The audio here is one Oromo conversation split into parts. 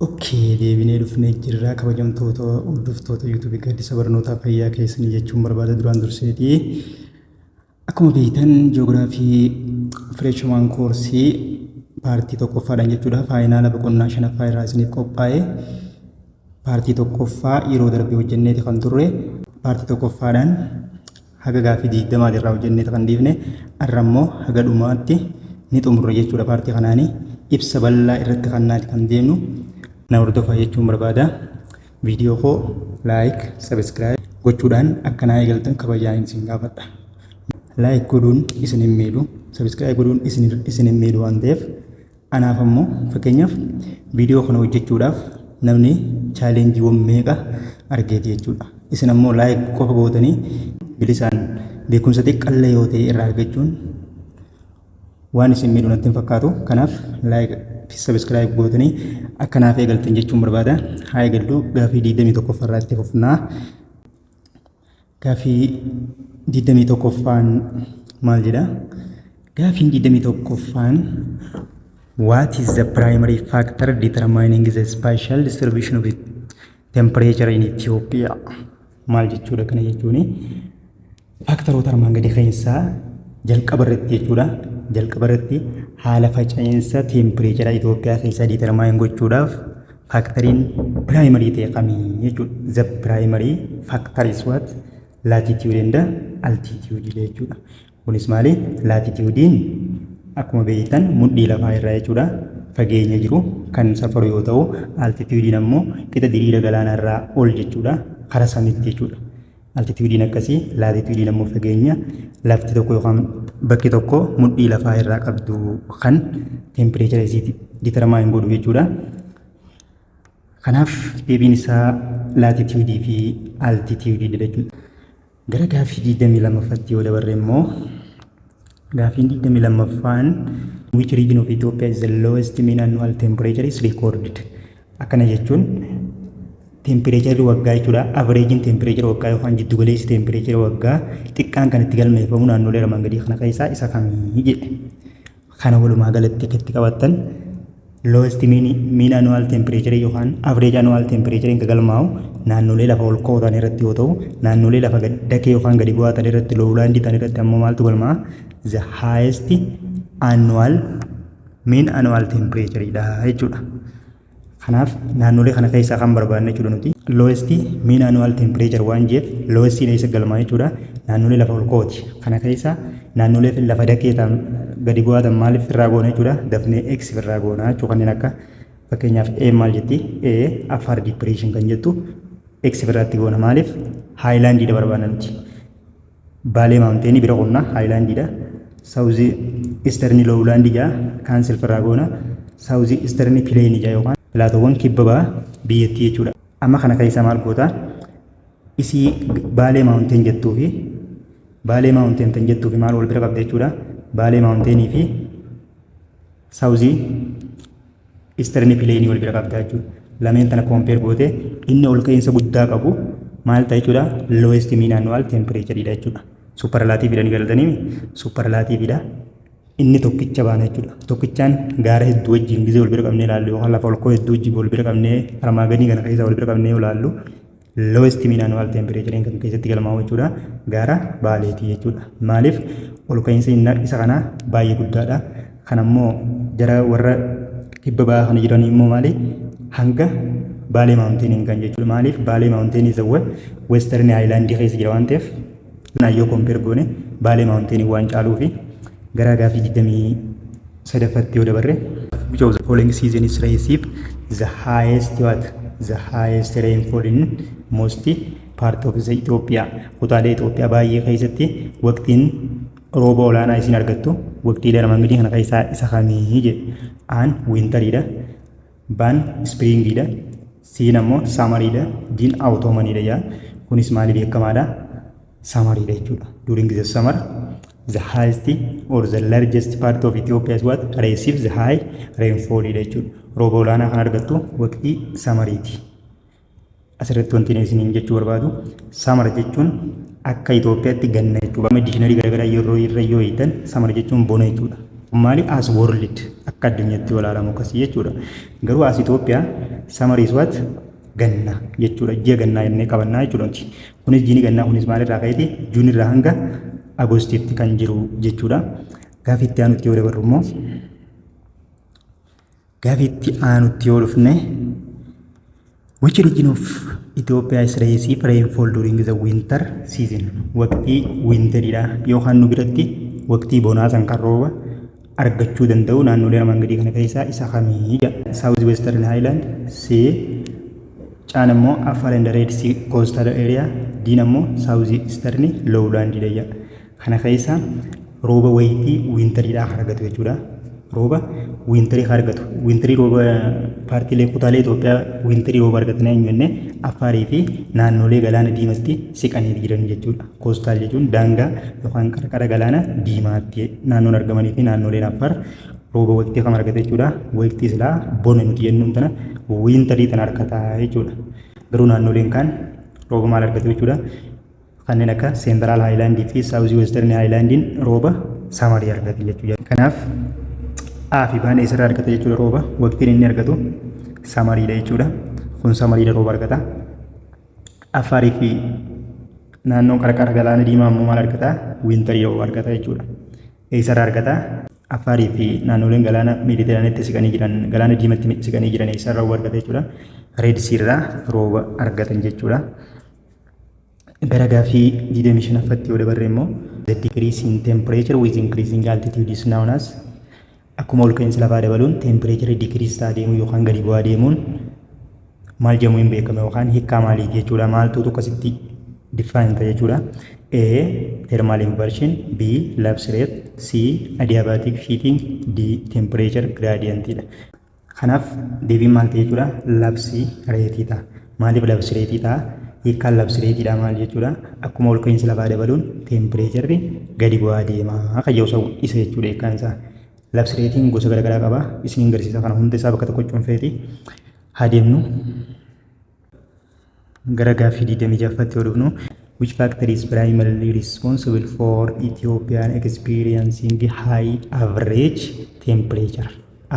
Ok deebinee dhufnee jirra kabajamtoota hordoftoota YouTube gaaddisa barnootaa fayyaa keessanii jechuun barbaada duraan durseeti. Akkuma beektan ji'oogiraafii fireeshimaan koorsii paartii tokkoffaadhaan jechuudha faayinaala boqonnaa shanaffaa irraa isiniif qophaa'e paartii tokkoffaa yeroo darbe hojjenneeti kan turre paartii tokkoffaadhaan haga gaaffii 20 irraa hojjennee kan dhiifne arra immoo haga dhumaatti ni xumurra jechuudha paartii kanaanii ibsa bal'aa irratti kannaati kan deemnu na hordofaa jechuun barbaada viidiyoo koo laayik sabiskiraayib gochuudhaan akka naa eegaltan kabajaan isin gaafadha laayik godhuun isin hin miidhu sabiskiraayib godhuun isin hin miidhu waan ta'eef Anaaf ammoo fakkeenyaaf viidiyoo kana hojjechuudhaaf namni chaalenjiiwwan meeqa argeeti jechuudha. Isin ammoo laayik qofa gootanii bilisaan beekumsa xiqqallee yoo ta'e irraa argachuun waan isin miidhu natti hin fakkaatu. Kanaaf laayik fi sabiskiraayib gootanii akka naaf eegaltan jechuun barbaada. Haa eegallu gaaffii 21 irraa itti fufnaa. Gaaffii 21ffaan maal jedha? Gaaffiin 21ffaan What is the primary factor determining the spatial distribution of temperature in Ethiopia? Maal jechuudha kana jechuun faaktaroota armaan gadii keessaa jalqaba irratti jechuudha. Jalqaba irratti haala faca'insa teempireechara Itoophiyaa keessaa determaayin gochuudhaaf Faaktariin piraayimarii ta'e kami jechuudha. The primary factor is what? Latitude and altitude dha jechuudha. Kunis maali? Laatitiyuudiin akkuma beektan mudhii lafaa irraa jechuudha. Fageenya jiru kan safaru yoo ta'u, altitiyuudiin ammoo qixa diriira galaanaa irraa ol jechuudha. Karaa samiitti jechuudha. Altitiyuudiin akkasii laatitiyuudiin ammoo fageenya lafti tokko yookaan bakki tokko mudhii lafaa irraa qabdu kan teempireechara isiiti ditarmaayin godhu jechuudha. Kanaaf deebiin isaa laatitiyuudii fi altitiyuudiidha jechuudha. Gara gaaffii 22ffatti yoo dabarre immoo gaaffiin 22ffaan which region of Ethiopia is the lowest mean annual temperature is recorded Akkana jechuun teempireecharri waggaa jechuudha. Avereejiin teempireechara waggaa yookaan jiddu galeessi teempireechara waggaa xiqqaan kan itti galmeeffamu naannolee armaan gadii kana keessaa isa kamii jedhe. Kana walumaa galatti akka itti qabattan lowest mean, mean annual temperature yookaan average annual temperature kan galmaa'u naannolee lafa ol ka'oo ta'an irratti yoo ta'u naannolee lafa gad- dakee yookaan gadi bu'aa ta'an irratti lowlaandii ta'an irratti ammoo maaltu galmaa'a? The highest annual miin anuwaal teempireechariidha jechuudha. Kanaaf naannolee kana keessaa kan barbaadne jechuudha nuti. Loowestii miin anuwaal teempireechar waan jeef loowestiin eessa galmaa jechuudha. Naannolee lafa olkooti. Kana keessaa naannolee lafa dakee ta'an gadi bu'aa ta'an maaliif firraa goona jechuudha. Dafnee X firraa goona jechuudha. Kanneen akka fakkeenyaaf A maal jetti? A Affaar dipireeshin kan jettu X firraatti goona maaliif? Haayilaandiidha barbaadna nuti. Baalee maawunteenii bira qonnaa haayilaandiidha. Saawuzii istarni loowlaandii ja'a kaansel firraa goona. Saawuzii istarni pileenii ja'a yookaan pilaatoowwan kibba ba'a biyyattii jechuudha. Amma kana keessaa maal goota? Isii baalee maawunteen jettuu fi baalee maawunteen tan jettuu fi maal wal bira qabda jechuudha. Baalee maawunteenii fi Saawuziin istirni pileenii wal bira qabda jechuudha. Lameen tana koompeer goote inni ol ka'iinsa guddaa qabu maal ta'a jechuudha? Lowest mean annual temperature dha jechuudha. Supparlaatiivii dha ni galatanii supparlaatiivii dha. Inni tokkicha baana jechuudha. Tokkichaan gaara hedduu wajjin gizee wal bira qabnee ilaallu yookaan lafa ol ka'oo hedduu wajjin wal bira qabnee armaa gadii kana keessa wal bira qabnee ilaallu lowest mean annual temperature kan keessatti galmaa'u jechuudha gaara baaleeti jechuudha maaliif ol ka'iinsi isa kanaa baay'ee guddaadha kan ammoo gara warra kibba ba'aa kana jiran immoo maali hanga baalee maawunteeniin kan jechuudha maaliif baalee maawunteenii isa western island keessa jira waan ta'eef naayyoo kompeer goone baalee maawunteenii waan caaluu fi gara gaafii 20 sadaffatti yoo dabarre which of the following seasons receive the highest what the highest rainfall in most part of the Ethiopia kutaalee Itoophiyaa baay'ee keessatti waqtiin rooba olaanaa isin argattu waqtiilee armaan gadii kana keessaa isa kamii jedhe aan wiintariidha Baan ispiriingiidha. Siin ammoo samariidha. Diin awutoomaniidha jaa. Kunis maali beekamaadha? Samariidha jechuudha. During the summer, the highest or the largest part of Ethiopia is what? Receive the high rainfall dha jechuudha. Rooba olaanaa kan argattu waqtii samariiti. Asirratti wanti inni isiniin jechuu barbaadu samara jechuun akka Itoophiyaatti ganna jechuudha. Amma diikshinarii garaagaraa yeroo irra yoo hiitan samara jechuun bona jechuudha. Maali as world akka addunyaatti yoo ilaalamu akkasii jechuudha. Garuu as Itoophiyaa samara is what ganna jechuudha. Ji'a gannaa jennee qabannaa jechuudha. Kunis jiini gannaa kunis maalirraa ka'eeti juun irraa hanga agoostiitti kan jiru jechuudha. Gaaffii itti aanutti yoo dabarru immoo Gaaffii itti aanutti yoo dhufne Which region of Ethiopia is raised if rainfall during the winter season? Waqtii winteriidha yookaan nu biratti waqtii bonaa san kan rooba argachuu danda'u naannolee armaan gadii kana keessaa isa kamii jedha. South Western Highland, C, Caan immoo Afar and Red Sea Coastal Area, Diin immoo South Eastern Lowland jedha. Kana keessa rooba wayitii wiintariidhaa kan argatu jechuudha. Rooba wiintarii kan argatu. Wiintarii rooba paartiilee kutaalee Itoophiyaa wiintarii rooba argatan eenyu jenne Affaarii fi naannolee galaana diimatti siqanii jiran jechuudha. Koostaal jechuun daangaa yookaan qarqara galaana diimaatti naannoon argamanii fi naannoleen Affaar rooba waqtii kam argata jechuudha. Waqtii silaa bona nuti jennuun tana wiintarii tana argata jechuudha. Garuu naannoleen kaan rooba maal argatu jechuudha. Kanneen akka Seentiraal Haayilaandii fi Saawuzii Westarni Haayilaandiin rooba samarii argatu jechuudha. Kanaaf A fi Baan eessarraa argata jechuudha rooba. Waqtiin inni argatu samariidha jechuudha. Kun samariidha rooba argata. Affaarii fi naannoon qarqara galaana diimaa immoo maal argata? Wiintarii rooba argata jechuudha. Eessarraa argata? Affaarii fi naannoleen galaana Meediteraanitti siqanii jiran, galaana diimatti siqanii jiran eessarraa rooba argata jechuudha. Reedsiirraa rooba argatan jechuudha. Gara gaaffii 25ffatti yoo dabarre immoo the decrease in temperature with increasing altitude is known as akkuma ol ka'iinsi lafaa dabaluun tempireechirri dikiriis ta'a deemuu yookaan gadi bu'aa deemuun maal jedhamu hin beekame yookaan hiikkaa maaliiti jechuudha maaltu tokkositti diffaayin ta'a jechuudha. A. Thermal inversion B. Lapse rate C. Adiabatic heating D. Temperature gradient dha. Kanaaf deebiin maal ta'e jechuudha? Labsii reetii ta'a. Maaliif labsii reetii ta'a? Hiikkaan labsii reetiidhaa maal jechuudha? Akkuma ol ka'iinsi lafaa dabaluun teempireecharri gadi bu'aa deema kan jedhu sa'u isa jechuudha hiikkaan isaa. Labsii reetiin gosa garaagaraa qaba. Isiniin garsiisa kana hunda isaa bakka tokko cuunfeeti haa deemnu. Gara gaaffii 26ffatti yoo dhufnu which factor is primarily responsible for Ethiopian experiencing high average temperature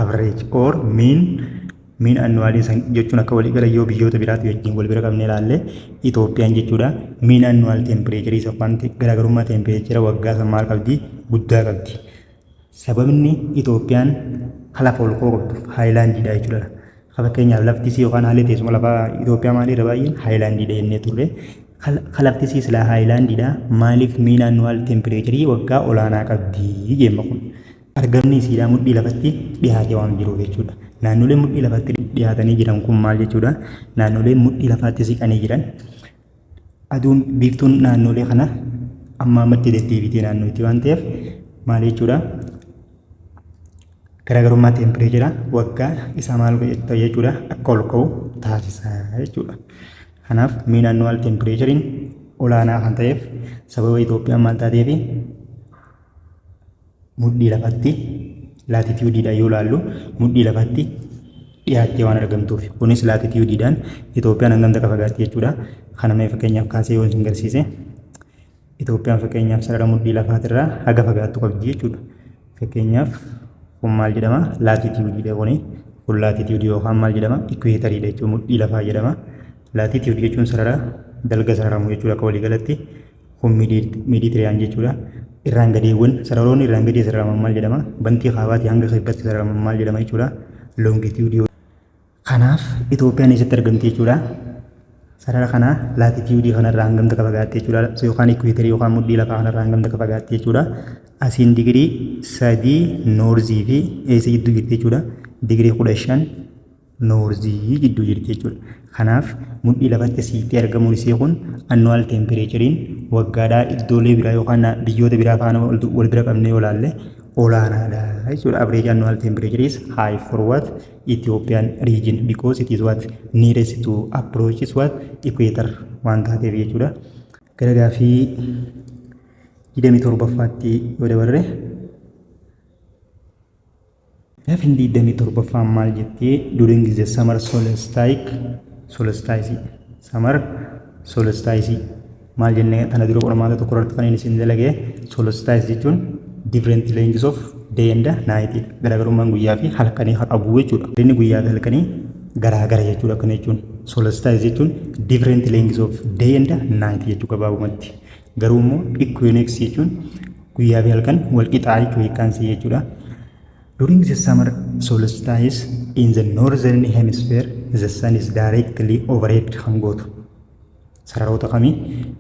average or mean mean annually san jechuun akka walii gala yoo biyyoota biraatti wajjin wal bira qabnee ilaalle Itoophiyaan jechuudha mean annual temperature isa waan garaagarummaa temperature waggaa san maal qabdi guddaa qabdi Sababni Itoophiyaan ka lafa ol koortu haayilaandiidha jechuudha. Ka fakkeenyaaf lafti isii yookaan haalli teessuma lafaa Itoophiyaa maalii irra baay'een haayilaandiidha jennee turre. Ka lafti isii silaa haayilaandiidha maaliif miin annuwaal tempireecharii waggaa olaanaa qabdi jemma kun. Argamni isiidhaa mudhii lafatti dhiyaatee waan jiruuf jechuudha. Naannoleen mudhii lafatti dhiyaatanii jiran kun maal jechuudha? Naannoleen mudhii lafaatti siqanii jiran Aduun biiftuun naannoolee kana amma ammatti deddeebitee naannootti waan ta'eef maal jechuudha? Garaagarummaa teempireechera waggaa isaa maal godhetta jechuudha akka ol ka'u taasisa jechuudha. Kanaaf miin annuwaal teempireecheriin olaanaa kan ta'eef sababa Itoophiyaan maal taateefi mudhii lafatti laatitiyuudiidhaan yoo laallu mudhii lafatti dhiyaattee waan argamtuuf kunis laatitiyuudiidhaan Itoophiyaan hangam takka fagaatti jechuudha. Kana mee fakkeenyaaf kaasee yoo isin garsiise Itoophiyaan fakkeenyaaf sarara mudhii lafaatirraa haga fagaattu qabdi jechuudha. Fakkeenyaaf kun maal jedhama laatitiyuudiidha kuni kun laatitiyuudii yookaan maal jedhama ikweetariidha jechuudha mudhii lafaa jedhama. Laatitiyuudii jechuun sarara dalga sararamu jechuudha akka waliigalatti Kun Meediteraaniyaan jechuudha. Irraan gadeewwan sararoonni irraan gadee sararaman maal jedhama? Bantii kaabaatii hanga kibbaatti sararaman maal jedhama jechuudha? Loongitiyuudii. Kanaaf Itoophiyaan eessatti argamti jechuudha? Sarara kana laatitiyuudii kanarraa hangam takka fagaatte jechuudha? Yookaan ikweetarii yookaan mudhii lafaa kanarraa hangam takka fagaatte jechuudha? Asiin digirii sadii noorzii fi eessa jidduu jirti jechuudha? Digirii kudha shan noorzii jidduu jirti jechuudha. Kanaaf mudhii lafatti siiqxee argamuun isii kun annuwaal teempireecheriin waggaadhaa iddoolee biraa yookaan biyyoota biraa faana wal bira qabnee olaalle olaanaadha jechuudha. Average annual temperature is high for what Ethiopian region because it is what nearest to approach is what equator waan taateef jechuudha. Gara gaafii 27ffaatti yoo dabarre Gaafin 27ffaan maal jettee during the summer solstice solstice summer solstice maal jennee tana dura qormaata tokko irratti kan isin dalage solstice jechuun different lengths of day and night garaagarummaan guyyaa fi halkanii haa qabu jechuudha. Inni guyyaa fi halkanii garaagara jechuudha akkana jechuun solstice jechuun different lengths of day and night jechuu gabaabumatti. Garuu immoo equinox jechuun Guyyaa fi halkan wal qixaa jechuudha hiikkaan isii jechuudha. During the summer solstice in the northern hemisphere the sun is directly overhead kan gootu. Sararoota kamii?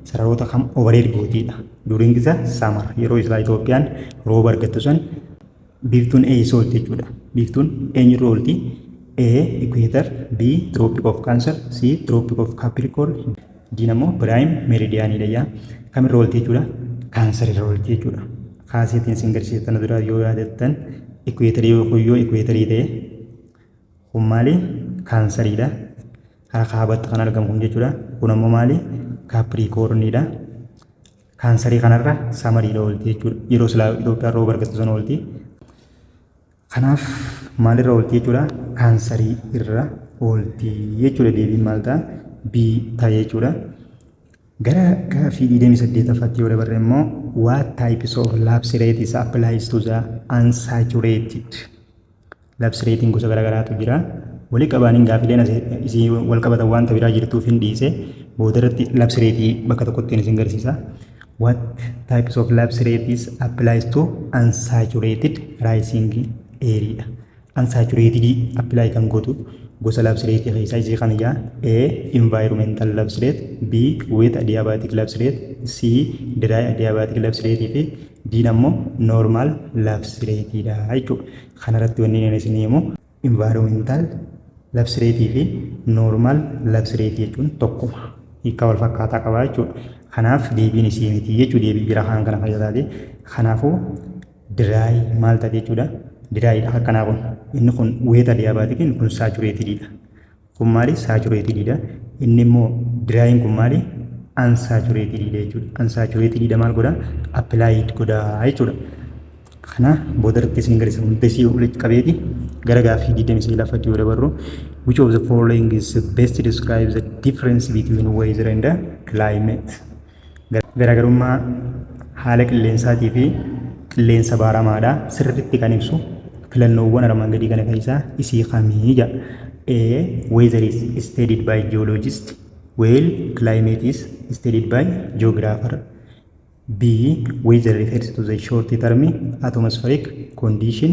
Sararoota kam overhead gootiidha. During the summer yeroo isaa Itoophiyaan rooba argattu san Biiftuun eessa oolti jechuudha. Biiftuun eenyurra oolti? A. Equator B. Tropic of Cancer C. Tropic of Capricorn D immoo Prime Meridian dha yaa. Kamirra oolti jechuudha? Cancer irra oolti jechuudha. Kaaseetiin isin garsiise tana dura yoo yaadattan equator yoo kun yoo equator ta'e kun maali? Cancer dha. Karaa kaabatti kan argamu kun jechuudha. Kun ammoo maali? Capricorn dha. Kaansarii kanarra samariidha oolti jechuudha. Yeroo silaa Itoophiyaa rooba argattu sana oolti. Kanaaf maalirra oolti jechuudha? Kaansarii irra oolti jechuudha. Deebiin maal ta'a? B ta'a jechuudha. Gara gaaffii 28ffaatti yoo dabarre immoo what types of lapse rates applies to the unsaturated Labsi reetiin gosa garaagaraatu jira. Wali qabaaniin gaafileen isii wal qabatan wanta biraa jirtuuf hin dhiise. Booda irratti labsi reetii bakka tokkottiin isin garsiisa. What types of lapse rates applies to unsaturated rising area? Unsaturated apply kan gootu gosa lapse rate keessaa isii kan ijaa A. Environmental lapse rate B. Wet adiabatic lapse rate C. Dry adiabatic lapse rate fi Dn ammoo normal lapse rate dha jechuudha. Kana irratti wanni inni isinii himu environmental lapse rate fi normal lapse rate jechuun tokkuma. Hiikaa wal fakkaataa qaba jechuudha. Kanaaf deebiin isii miti jechuu deebii biraa kan kana fayyadaati. Kanaafuu dry maal taate jechuudha. Dry dha akkanaa kun. Inni kun wet adiabaatik inni kun saturated dha. Kun maali? Saachuretiididha. Inni immoo diraayiin kun maali? Ansaachuretiididha jechuudha. Ansaachuretiididha maal godha? Appilaayid godha jechuudha. Kana booda irratti isin agarsiisa. Hundesii walitti qabeeti gara gaaffii 29ffatti yoo dabarru which of the following is best describe the difference between weather and climate Garaagarummaa haala qilleensaatii fi qilleensa baaramaadha sirriitti kan ibsu filannoowwan armaan gadii kana keessaa isii kami jedha. A. Weather is studied by geologist while climate is studied by geographer. B. Weather refers to the short term atmospheric condition.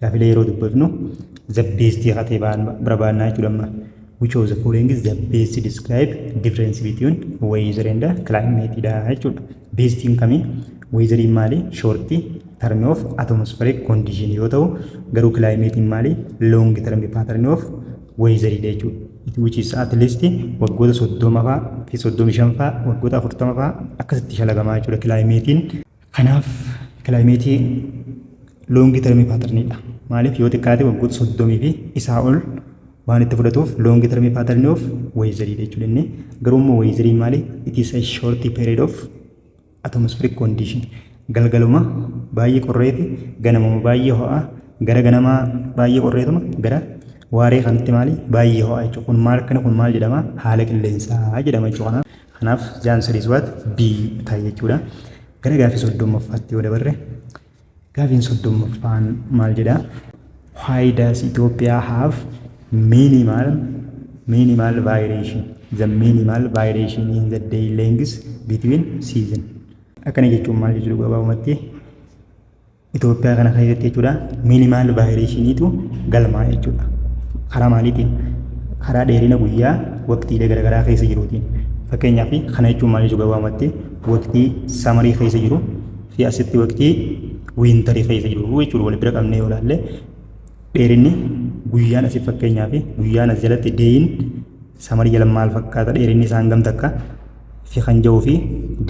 Gaafilee yeroo dubbifnu the best hatee barbaannaa jechuudha amma. Which of the following is the best to describe difference between weather and climate dha jechuudha. Bestiin kami? Weatheriin maali? Shorti term of atmospheric condition yoo ta'u garuu climate maali? Long term pattern of weather dha jechuudha. It which is at least waggoota soddoma fa'aa fi soddomi shan fa'aa waggoota afurtama fa'aa akkasitti shalagamaa jechuudha climate Kanaaf kilaayimeetii loongi termii paatarniidha. Maaliif yoo xiqqaate waggoota soddomii fi isaa ol waan itti fudhatuuf loongi termii paatarnii of weezariidha jechuudha inni. Garuu immoo weezariin maali? It is a short period of atmospheric condition. Galgaluma baay'ee qorreeti, ganamuma baay'ee ho'aa, gara ganamaa baay'ee qorreetuma, gara waaree kanatti maali? Baay'ee ho'aa jechuudha. Kun maal akkana kun maal jedhama? Haala qilleensaa jedhama jechuudha. Kanaaf the answer is what B ta'a jechuudha. Gara gaaffii soddommaffaatti yoo dabarre gaaffiin soddommaffaan maal jedha? Why does Ethiopia have minimal minimal variation? The minimal variation in the day length between season. Akkana jechuun maal jechuudha gabaabumatti? Itoophiyaa kana keessatti jechuudha miinimaal vaayireeshiniitu galmaa jechuudha. Karaa maaliitiin? Karaa dheerina guyyaa waqtiilee garaagaraa keessa jiruutiin. Fakkeenyaaf kana jechuun maal jechuu gabaabumatti waqtii samarii keessa jiru fi asitti waqtii wiintarii keessa jiru jechuudha wal bira qabnee yoo ilaalle dheerinni guyyaan asii fakkeenyaaf guyyaan as jalatti deeyin Samarii jala maal fakkaata dheerinni isaa hangam takka fi kan ja'uu fi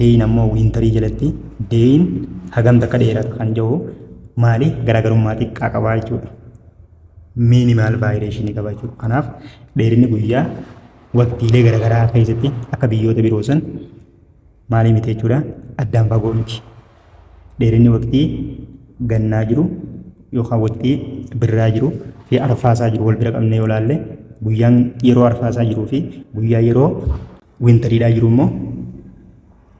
deeyin ammoo wiintarii jalatti deeyin hagam takka dheerata kan ja'u maali garaagarummaa xiqqaa qabaa jechuudha. Miinimaal vaayireeshinii qaba jechuudha. Kanaaf dheerinni guyyaa waqtiilee garaagaraa keessatti akka biyyoota biroo san maalii miti jechuudha addaan fagoo miti dheerinni waqtii gannaa jiru yookaan waqtii birraa jiru fi arfaasaa jiru wal bira qabnee yoo ilaalle guyyaan yeroo arfaasaa jiruu fi guyyaa yeroo wintariidhaa jiru immoo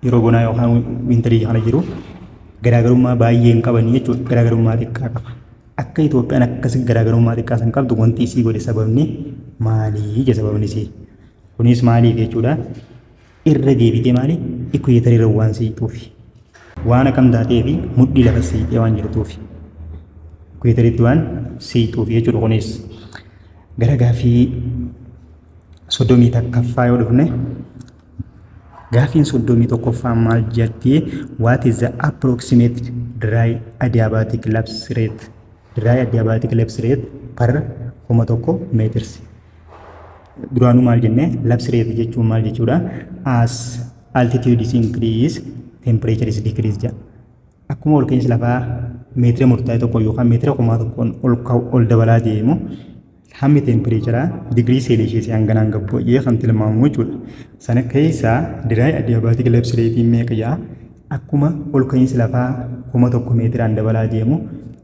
yeroo bonaa yookaan wintarii kana jiru garaagarummaa baay'ee hin qaban jechuudha garaagarummaa xiqqaa qaba akka Itoophiyaan akkas garaagarummaa xiqqaa san qabdu wanti isii godhe sababni maalii ija sababni isii kunis maaliif jechuudha irra deebitee maali ikkuyeetariirra waan siixuufi waan akkam taatee fi mudhii lafa siixee waan jirtuufi ikkuyeetariitti waan siixuufi jechuudha kunis gara gaafii soddomii takkaffaa yoo dhufne gaafiin soddomii tokkoffaa maal jetti what is the approximate dry adiabatic lapse rate dry adiabatic lapse rate per kuma tokko meeters duraanuu maal jenne labsi reefu jechuun maal jechuudha as altitude is increase temperature is decrease jedha akkuma ol ka'insi lafaa meetira murtaa'e tokko yookaan meetira kumaa tokkoon ol ka'u ol dabalaa deemu hammi tempireecharaa digirii seelisheesii hanganaan gabbu jedhee kan tilmaamu jechuudha sana keessaa diraay adiyaabaatik labsi reetiin meeqa jedha akkuma ol ka'insi lafaa kuma tokko meetiraan dabalaa deemu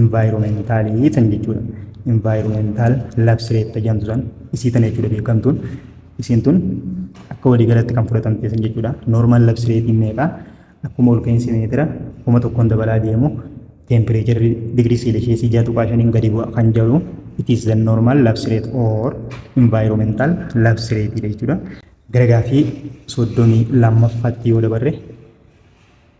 Invaayiroomentaalii tan jechuudha. Invaayiroomeentaal labsiree itti jedhamtu san isii tana jechuudha beekamtuun. Isiin tun akka walii galatti kan fudhatamte san jechuudha. Noormaal labsireetiin meeqa akkuma ol ka'iinsi meetira kuma tokkoon dabalaa deemu teempireecharri digirii seelisheesii ja'a tuqaa shaniin gadi bu'a kan jedhu it is the normal lapse rate or environmental lapse rate jechuudha. Gara gaafii soddomii lammaffaatti yoo dabarre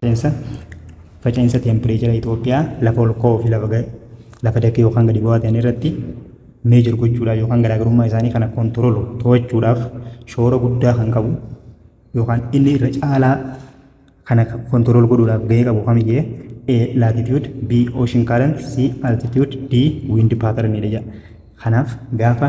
Faca'iinsa Faca'iinsa teempireechara Itoophiyaa lafa ol ka'oo fi lafa, lafa dakee yookaan gadi bu'aa ta'an irratti meejor gochuudhaaf yookaan garaagarummaa isaanii kana kontiroolu to'achuudhaaf shoora guddaa kan qabu yookaan inni irra caalaa kana kontirool godhuudhaaf gahee qabu kami jee A. Latitude B. Ocean current C. Altitude D. Wind pattern dha jedha. Kanaaf gaafa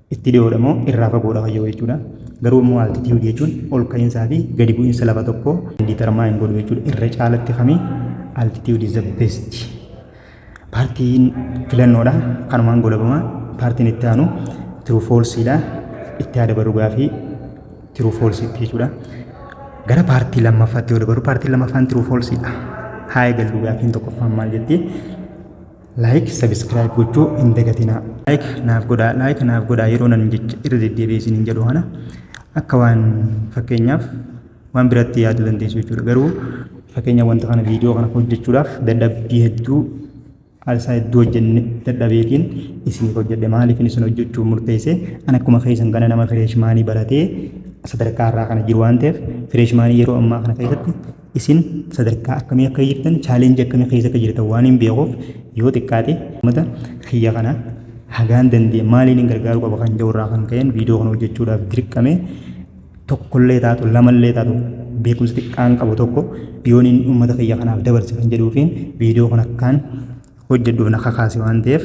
Itti dhiyoodha moo irraa fagoodha wayya jechuudha. Garuu immoo altitude jechuun ol ka'iinsaa fi gadi bu'iinsa lafa tokkoo determine godhu jechuudha. Irra caalatti kami altitude is the best. Paartiin filannoodha. Kanumaan golabama. Paartiin itti aanu true false dha. Itti haa dabaru gaafii true false itti jechuudha. Gara paartii lammaffaatti yoo dabaru paartiin lammaffaan true false dha. Haa eegallu gaafiin tokkoffaan maal jetti? Like subscribe gochuu hin dagatinaa. Like naaf godhaa like naaf godhaa yeroo nan jecha irra deddeebi'ee isin hin jedhu kana akka waan fakkeenyaaf waan biratti yaaduu dandeessu jechuudha garuu fakkeenya wanta kana viidiyoo kana hojjechuudhaaf dadhabbii hedduu haalsaa hedduu hojjenne dadhabeetiin isiniif hojjedhe maaliif isin hojjechuuf murteesse an akkuma keessan kana nama fireeshmaanii baratee sadarkaa irraa kana jiru waan ta'eef fireeshmaanii yeroo ammaa kana keessatti isin sadarkaa akkamii akka jirtan challenge akkamii keessa akka jirtan waan hin beekuuf yoo xiqqaate uummata kiyya kana hagaan danda'e maaliin hin gargaaruu qaba kan jedhu irraa kan ka'een viidiyoo kana hojjechuudhaaf dirqame tokkollee taatu lamallee taatu beekumsa xiqqaan qabu tokko yoon inni uummata kiyya kanaaf dabarse kan jedhuufiin viidiyoo kana akkaan hojjedhuuf na kakaase waan ta'eef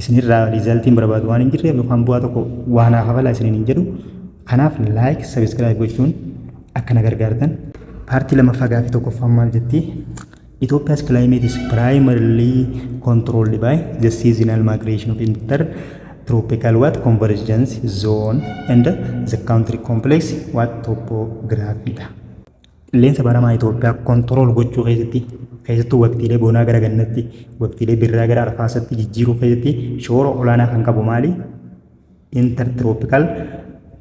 isinirraa riizaltiin barbaadu waan hin jirreef yookaan bu'aa tokko waa naa kafalaa isiniin hin jedhu kanaaf laayik sabiskiraayib gochuun akka na gargaartan paartii lammaffaa gaaffii tokkoffaan maal jetti Ethiopia's climate is primarily controlled by the seasonal migration of inter tropical what convergence zone and the country complex what topography dha. Qilleensa baramaa Itoophiyaa kontirool gochuu keessatti keessattuu waqtiilee bonaa gara gannatti, waqtiilee birraa gara arfaasatti jijjiiruu keessatti shoora olaanaa kan qabu maali? Intertropical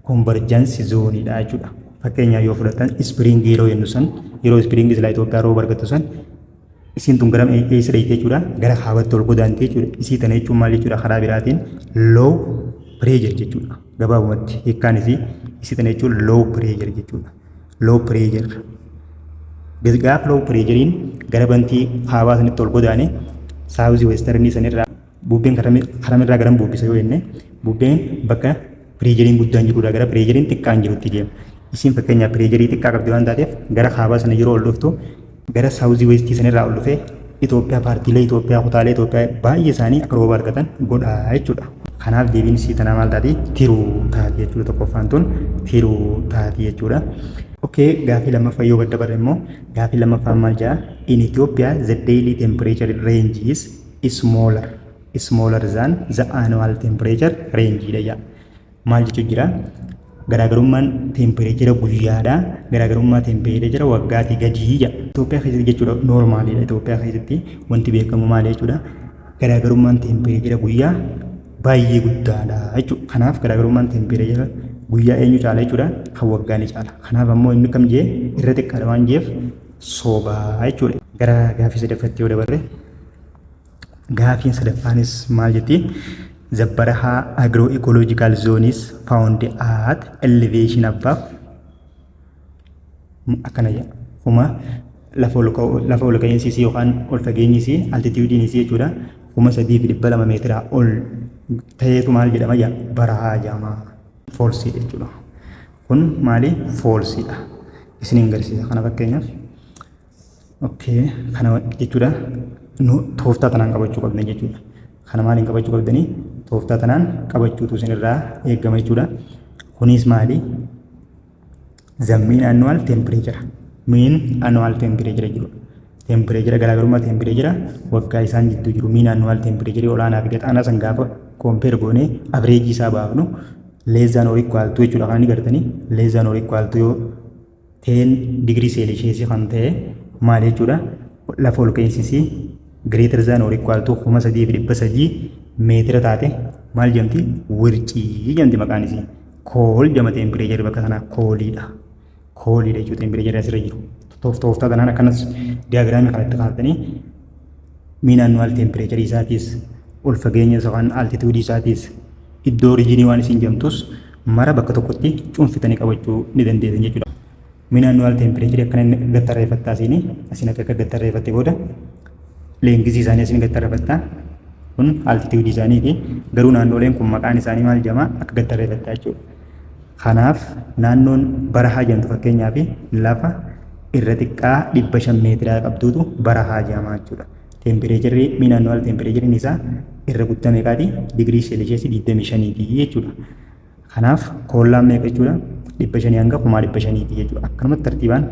convergence zone dha jechuudha. Fakkeenyaaf yoo fudhatan ispiriingii yeroo jennu san yeroo ispiriingii silaa Itoophiyaa rooba argattu san isiin tun gara eessa dheeyte jechuudha gara kaabatti ol godaanti jechuudha. Isii tana jechuun maal jechuudha karaa biraatiin low pressure jechuudha. Gabaabumatti hiikkaan isii isii tana jechuun low pressure jechuudha. Low pressure. Gaafa low pressuriin gara bantii kaabaa sanitti ol godaane saawuzii weestarnii sanirraa bubbeen karamirraa garan bubbisa yoo jenne bubbeen bakka pireejeriin guddaan jirudha gara pireejeriin xiqqaan jirutti deema. Isin fakkeenyaaf pireejerii xiqqaa qabdi waan taateef gara kaabaa sana yeroo ol dhuftu gara saawuzii weestii sanirraa ol dhufee Itoophiyaa paartiilee Itoophiyaa kutaalee Itoophiyaa baay'ee isaanii akka rooba argatan godha jechuudha. Kanaaf deebiin isii tanaa maal taati? Tiruu taati jechuudha tokkoffaan tun tiruu taati jechuudha. Okay, gaafii lammaffaa yoo gadda barre immoo gaafii lammaffaan maal jedha? In Ethiopia the daily temperature range is smaller smaller than the annual temperature range dha jedha. maal jechuu jira garaagarummaan teempireechera guyyaadha garaagarummaa teempireechera waggaatii gadii jedha Itoophiyaa keessatti jechuudha noormaaliidha Itoophiyaa keessatti wanti beekamu maal jechuudha garaagarummaan teempireechera guyyaa baay'ee guddaadha jechuudha kanaaf garaagarummaan teempireechera guyyaa eenyu caala jechuudha kan waggaa ni caala kanaaf ammoo inni kam jee irra xiqqaadha waan jeef soobaa jechuudha gara gaafii sadaffatti yoo dabarre Gaafiin sadaffaanis maal jetti? The Baraha agroecological zone is found at elevation above akkana jedha. Kuma lafa ol ka'u- lafa ol ka'iinsi isii yookaan ol fageenyi isii altituudiin isii jechuudha. Kuma sadii fi dhibba lama meetiraa ol ta'eetu maal jedhama jedha? Barahaa jedhama. Foolsii jechuudha. Kun maali? Foolsiidha. Isiniin garsiisa kana fakkeenyaaf. Okay, kana jechuudha nu tooftaa tanaan qabachuu qabdan jechuudha. Kana maaliin qabachuu qabdanii? Tooftaa tanaan qabachuutu isinirraa eegama jechuudha. Kunis maali? The mean annual temperature. Mean annual temperature jechuudha. Temperature garaagarummaa temperature waggaa isaan jidduu jiru mean annual temperature olaanaa fi gataanaa san gaafa compare goonee average isaa baafnu less than or equal to jechuudha. Kan inni gartanii less than or equal to yoo 10 digirii seelisheesii kan ta'e maal jechuudha lafa ol ka'insisii greater than or equal to 3300 meetira taate maal jedhamti wircii jedhamti maqaan isii kool jedhama teempireejarri bakka sanaa kooliidha kooliidha jechuudha teempireejarri asirra jiru tooftaa tanaan akkanas diyaagiraamii kanatti kaa'attanii miin annuwaal teempireecharii isaatiis ol fageenya yookaan altituudii isaatiis iddoo oriijinii waan isin jamtus mara bakka tokkotti cuunfitanii qabachuu ni dandeessan jechuudha. Miin annuwaal teempireecharii akkana inni gattarreeffattaa isin asin akka gattarreeffatte booda leengizii isaanii asin gattarreeffattaa kun altituudii isaaniiti garuu naannooleen kun maqaan isaanii maal jamaa akka gattarreeffattaa jechuudha. Kanaaf naannoon barahaa jedhamtu fakkeenyaaf lafa irra xiqqaa 500 meetiraa qabduutu barahaa jedhama jechuudha. Teempireecherri mii naannoo ala teempireecheriin isaa irra guddaa meeqaati? Digirii seelisheesii 25 ti jechuudha. Kanaaf koollaan meeqa jechuudha? 500 hanga 1500 ti jechuudha. Akkanumatti tartiibaan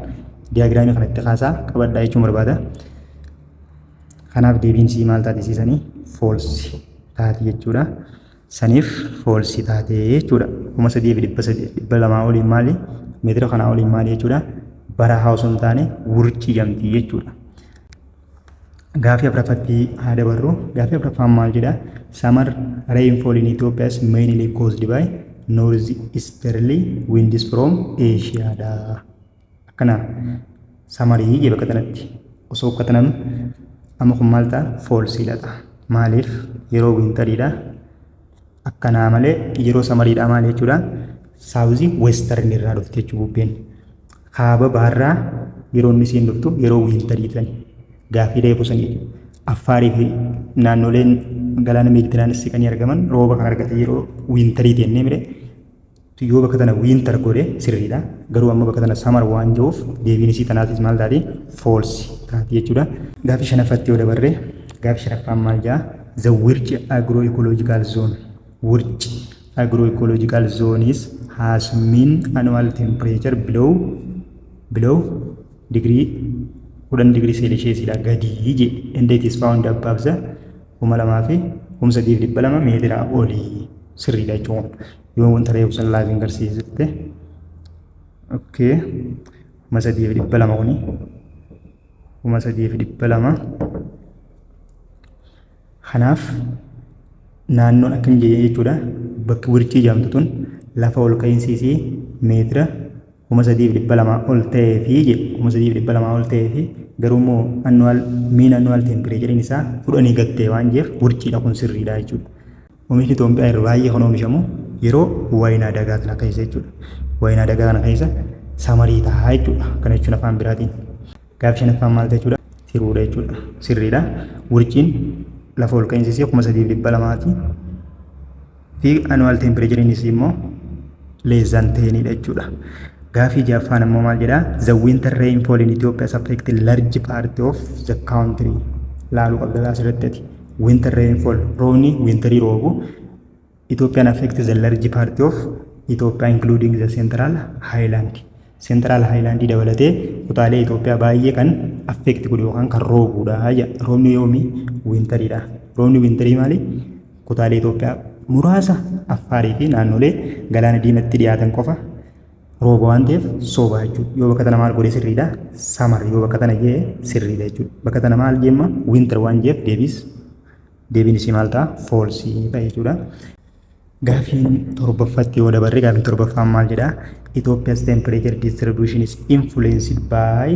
diyaagiraamii kana itti kaasaa qabadhaa jechuun barbaada. Kanaaf deebiin sii maal taatisiisanii? Foolsi taati jechuudha. saniif foolsii taatee jechuudha. kuma sadii fi dhibba sadii dhibba lamaa oliin maali meetira kanaa oliin maali jechuudha. Bara haa osoo hin taane wurcii jamtii jechuudha. Gaafii afraffatti haa dabarru. Gaafii afraffaan maal jedha? Summer rainfall in Ethiopia is mainly caused by north easterly winds from Asia dha. akkana samarii jee bakka tanatti osoo ukkatananu amma kun maal ta'a foolsiidha ta'a maaliif yeroo wiintariidha akkanaa malee yeroo samariidha maal jechuudha saawuzii weestarn irraa dhufte jechuu bubbeen kaaba baarraa yeroo inni isiin dhuftu yeroo wiintarii tan gaafii reefu sanii affaarii fi naannoleen galaana meediteraanisi kan argaman rooba kan argate yeroo wiintarii jennee mire Yoo bakka tana winter godhe sirriidha. Garuu amma bakka tana summer waan jiruuf deebiin isii tanaatis maal taati? False taati jechuudha. Gaaffii shanaffaatti yoo dabarre gaaffii shanaffaan maal ja'a? The Wirc agroecological zone. Wirc agroecological zones has mean annual temperature below below degree 10 degree Celsius dha gadi je and it is found above the 2000 fi 1200 meetira olii sirriidha jechuudha. yoo wanta reefu san laafi hin garsiisitte okkee kuma sadii fi dhibba lama kuni kuma sadii fi dhibba lama kanaaf naannoon akka hin jenne jechuudha bakki wirchii jedhamtu tun lafa ol ka'iinsi isii meetira kuma sadii fi dhibba lama ol ta'ee fi jedhe kuma sadii fi dhibba lama ol ta'ee fi garuu immoo annuwaal miin annuwaal teempireechariin isaa kudhanii gattee waan jeef wirchiidha kun sirriidha jechuudha. Omishni Itoophiyaa yeroo baay'ee kan oomishamu yeroo wayinaa dagaa kana keessa jechuudha. Wayinaa dagaa kana keessa samarii ta'a jechuudha. Kana jechuun afaan biraatiin. Gaaffii shanaffaan maal jechuudha? Tiruudha jechuudha. Sirriidha. Wurciin lafa ol ka'iinsi isii kuma sadiif dhibba lamaati. Fi anuwaal teempireechariin isii immoo leezaan teeniidha jechuudha. Gaaffii jaaffaan immoo maal jedhaa? The winter rainfall in Ethiopia has affected large part of the country. Laaluu qabda asirratti ati. winter rainfall roobni winterii roobu Ethiopian affect the large part of Ethiopia including the central highland central highland dabalatee kutaalee Ethiopia baay'ee kan affect godhu yookaan kan roobuudha roobni yoomi winteriidha roobni winterii maali kutaalee Ethiopia muraasa affaarii fi naannolee galaana diimatti dhiyaatan qofa Rooba waan ta'eef sooba jechuudha. Yoo bakka tana maal godhe sirriidha. Samar yoo bakka tana jee sirriidha jechuudha. Bakka tana maal jeemma winter waan jeef deebiis deebiin isii maal ta'a foolsii ta'a jechuudha. Gaafiin torbaffatti yoo dabarre gaafiin torbaffaan maal jedha? Ethiopia's temperature distribution is influenced by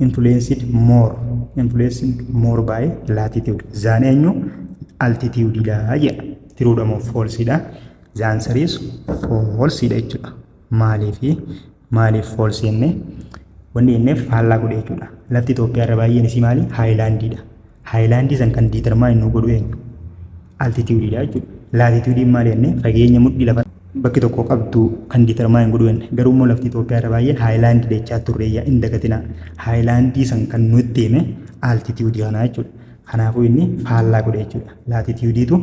influenced more influenced more by latitude. Zaan eenyu? Altitude dha jedha. Tiruudha moo foolsiidha? The answer is false dha jechuudha. Maaliif maaliif false jenne wanni jenneef faallaa godhe jechuudha. Lafti Itoophiyaa irra baay'een isii maali? Haayilaandiidha. Haayilaandii san kan diitarmaayini nu godhu eenyu? Altituudiidha jechuudha. Laatituudiin maal jenne fageenya mudhii lafa bakki tokko qabdu kan diitarmaayin godhu jenne. Garuu immoo lafti Itoophiyaa irra baay'een haayilaandii jechaa turreeyya hin dagatinaa. Haayilaandii san kan nutti hime altituudii kanaa jechuudha. Kanaafuu inni faallaa godhe jechuudha. Laatitiyuudiitu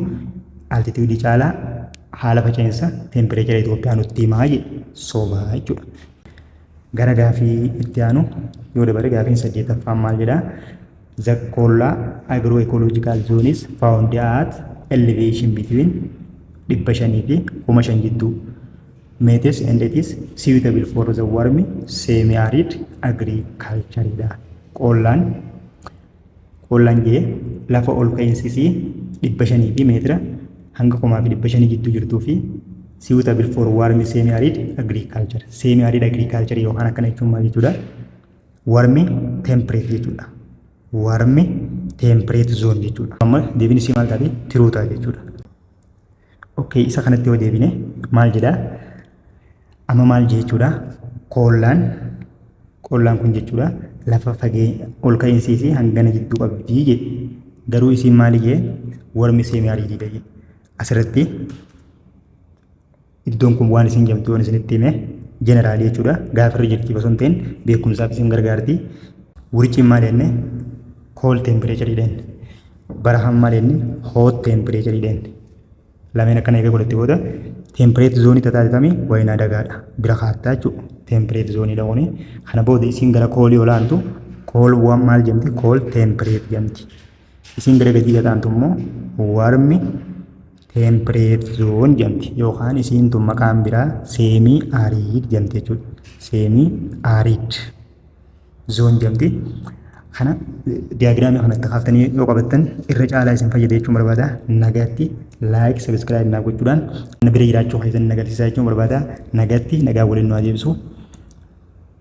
altitiyuudii caalaa haala faca'insa teempireechara Itoophiyaa nutti himaa jedhe soba jechuudha. Gara gaafii itti aanu yoo dabare gaafiin saddeettaffaan maal jedhaa? The Kollaa Agro Ecological Zone is found at elevation between dhibba shanii fi kuma shan jidduu. Metes and it is suitable for the warm semi-arid agriculture dha. Qollaan Qoolaan jee lafa ol ka'iinsi isii 500 fi meetira hanga 1500 jidduu jirtuu fi suitable for warm semi arid agriculture semi arid agriculture yookaan akkana jechuun maal jechuudha warm temperate jechuudha warm temperate zone jechuudha amma deebiin isii maal taate tiruu ta'a jechuudha Okay, isa kanatti yoo deebine maal jedha? Amma maal jechuudha? Koollaan koollaan kun jechuudha lafa fageenya ol ka'insii fi hangana jidduu qabdi jedhe. Garuu isiin maali jee warmi seemii ariitiidha jedhe. Asirratti Iddoon kun waan isin jamtu yoon isinitti hime jeneraalii jechuudha. Gaafa irra jirti osoo hin ta'in beekumsaaf isin gargaarti. Wurciin maal jenne? Kool teempireecharii jenne. Barahaan maal jenne? Hoot teempireecharii jenne. Lameen akkana eega godhatte booda teempireet zoonii tataatitami wayinaa dagaadha. Bira kaattaa jechuudha. Teempireet zoonii dhaquni. Kana booda isin gara koolii olaantu kool waan maal jamti? Kool teempireet jamti. Isiin gara gadii gataantu immoo warmi temperate zone jedhamti yookaan isiin tun maqaan biraa seemii ariid jedhamti jechuudha. Seemii ariid zoon jedhamti. Kana diyaagiraamii kana itti kaaftanii yoo qabattan irra caalaa isin fayyada jechuun barbaada. Nagaatti laayik sabiskiraayib naa gochuudhaan na bira jiraachuu keessan nagarsiisaa jechuun barbaada. Nagaatti nagaa waliin nu adeemsu.